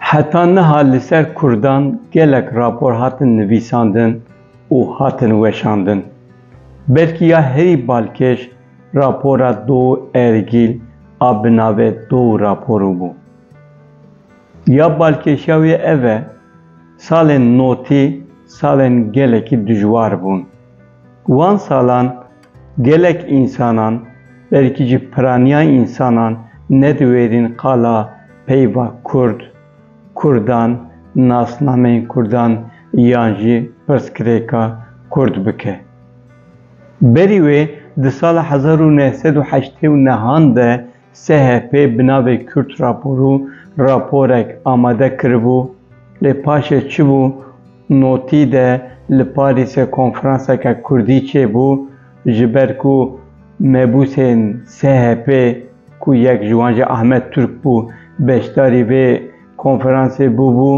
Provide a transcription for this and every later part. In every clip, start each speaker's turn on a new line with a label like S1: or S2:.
S1: Heta niha li ser Kurdan gelek rapor hatin nivîsandin û hatin weşandin. Belkî ya herî balkêş rapora Do Ergîl a bi navê Do raporu bû. Ya balkêşiya wê ev e, salên notî salên gelekî dijwar bûn. Wan salan Gelek însanan, belkî jî piraniya însanan ne diwêrîn qala peyva kurd, kurdan, nasnameyên kurdan yan jî pirsgirêka kurd bike. Berî wê di sala hezar û neh sed û heştê û nehan de SHP bi navê Kürt Raporu raporek amade kiribû, lê paşê çibû notî de li Parîsê konferanseke kurdî çêbû ji ber ku mebûsên SHP ku yek ji wan jî Ahmet Turk bû beşdarî vê konferansê bûbû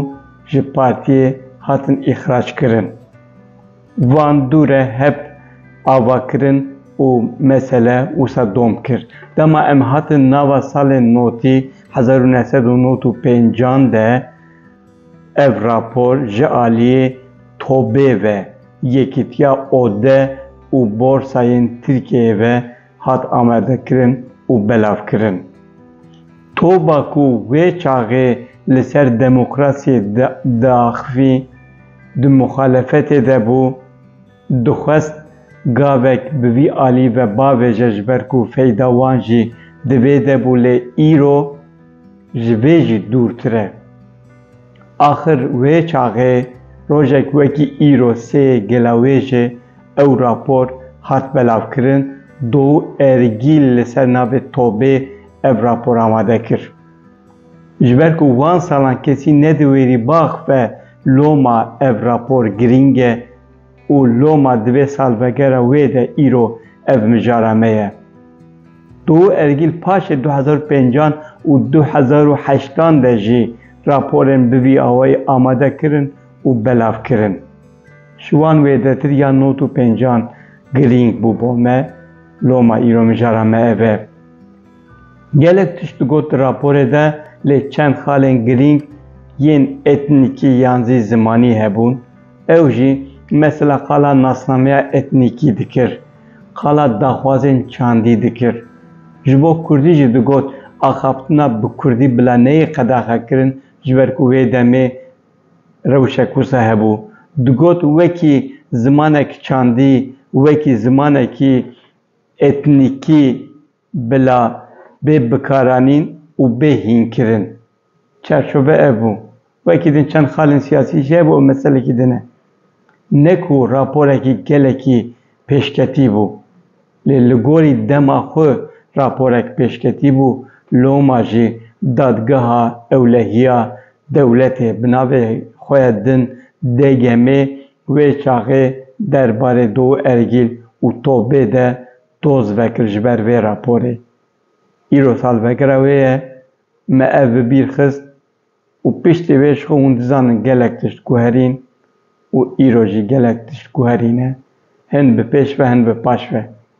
S1: ji partiyê hatin îxrac kirin. Van dû re hep ava kirin û mesele wisa dom kir. Dema em hatin nava salên notî hezar û neh sed û nod û pêncan de ev rapor ji aliyê TOB'ê ve, Yekîtiya Ode û Borsayên Tirkiyeyê ve hat amadekirin û belavkirin. Toba ku wê çaxê li ser demokrasiyê diaxivî, di muxalefetê de bû, dixwest gavek bi vî alî ve bavêje ji ber ku feyda wan jî di vê de bû lê îro ji vê jî dûrtir e. Axir wê çaxê rojek wekî îro sê gela wê ji ew rapor hat belavkirin do û ergî li ser navê Tobê ev rapor amade kir. Ji ber ku wan salan kesî ne di wêrî bax ve loma ev rapor girîng e. Û loma di vê salvegera wê de îro ev mijara me ye. Du ergîl paşê du hezar û pêncan û du hezar û heştan de jî raporên bi vî awayî amade kirin û belav kirin. Ji wan wêdetir ya nod û pêncan girîng bû bo me, loma îro mijara me ev e. Gelek tişt digot di raporê de lê çend xalên girîng yên etnîkî yan zî zimanî hebûn. Ew jî mesela qala nasnameya etnîkî dikir, qala daxwazên çandî dikir. Ji bo kurdî jî digot axaftina bi kurdî bila neyê qedexekirin ji ber ku wê demê rewşek wisa hebû. Digot wekî zimanek çandî, wekî zimanekî Etnîkî bila bê bikaranîn û bê hînkirin. Çarçove ev bû. Wekî din çend xalên siyasî jî hebû ew meselekî din e. Ne ku raporekî gelekî pêşketî bû. Lê li gorî dema xwe raporek pêşketî bû, loma jî Dadgeha Ewlehiya Dewletê bi navê xwe ya din, DGM'ê, Wê çaxê der barê do ergîl û tobê de doz vekir ji ber vê raporê. Îro salvegera wê ye, me ev bi bîr xist û piştî wê ji xwe hûn dizanin gelek tişt guherîn û îro jî gelek tişt guherîne, hin bi pêş ve hin bi paş ve.